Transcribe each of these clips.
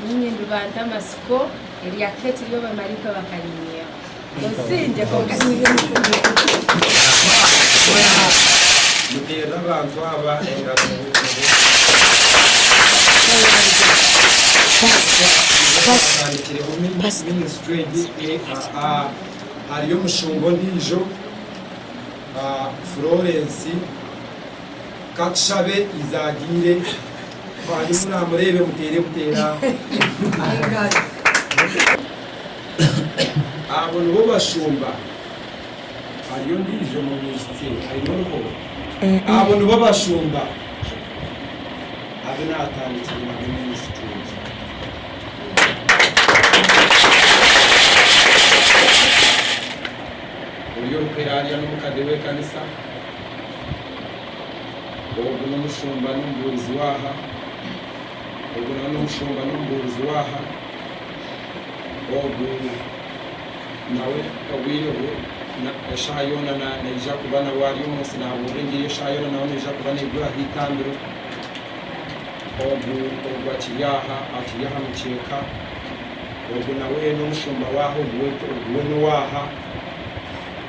Nyowe nindubanta amatsiko erya keki ei abamaraika bakariinyaho. Osingye kwonka Amen. Muteere abantu aba engaro muhumuze. Pastor iwe otandikireho ministry egi ehaa hariyo omushumba ondiijo Florence katushabe ize agiire. Bambi munaamureebe muteere buteera aah. Abo nibo bashumba. Hariyo ondiijo mumwishiki aine oruho. Abo nibo bashumba abu naatandikire nabo minisituri egi. Ori orikuhera arya n'omukade w'ekanisa. Ogu n'omushumba n'omubuurizi w'aha, ogu nawe n'omushumba n'omubuurizi w'aha, ogu nawe obwire bwe, eshaaha yoona naija kuba nawe ari omu nsi naabuurira Enjiri, eshaaha yoona nawe neija kuba neegura aha itambiro. Ogu ogu akiri aha akiri aha mukyeeka, ogu nawe n'omushumba w'aha, ogu we n'owaaha.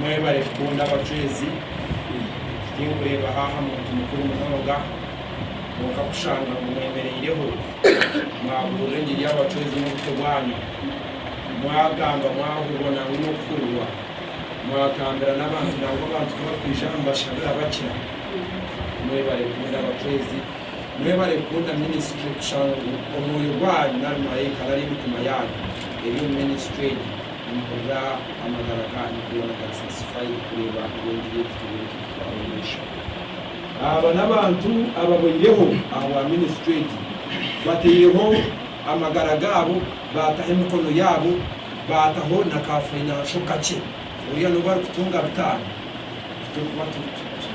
Mwebare kukunda abacwezi. Tinkureebaho aha muntu mukuru munonga, kwonka kushanga ngu mwemereireho mwabuurira engiri y'abacwezi n'obuto bwanyu, mwagamba mwabubona ngu n'okuhurirwa, mwagambira n'abantu nangwa abantu ku barikwija aha mubashabira bakira. Mwebare kukunda abacwezi. Mwebare kukunda minisitule kushanga ngu omwoyo gwanyu nari murayikara ari emitima yaanyu eri omu minisitule egi. Nimpurira amagara kandi goona garisa sifayiri kureeba ngu engira egi teriyo nikugitwara omu maisho. Aba n'abantu ababoireho ahabwa minisitri egi, bataireho amagara gaabo, baataho emikono yaabo, baataho na ka fainansho kakye. Oriya n'obu arikutunga bitaano, titurikuba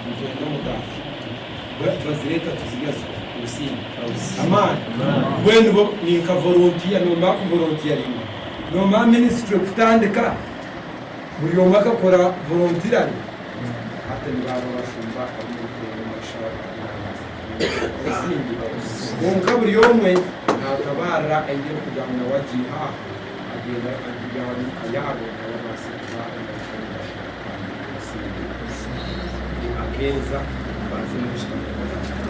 nitwenda omugati, bwenu tubazireeta tuzirya zikwe. Obusinge. Amaani. Mbwenu bo ni nka volontiya, noomba kuvolontiyaringa. Nomara minisitule kutandika, buri omwe akakora volontirare. Hati nibaaba abashumba ab'omuruteerane omu mashaaha ga Nyanza n'enteerane ezindi. Kwonka buri omwe naatabaarira aine ebikugamba nawe agiiha aho, agenda arikubigaaba ab'eka yaabo ngu babaase kuba embaruka y'omugasho kandi ebasinge. Akeeza, baazire omu kitabo.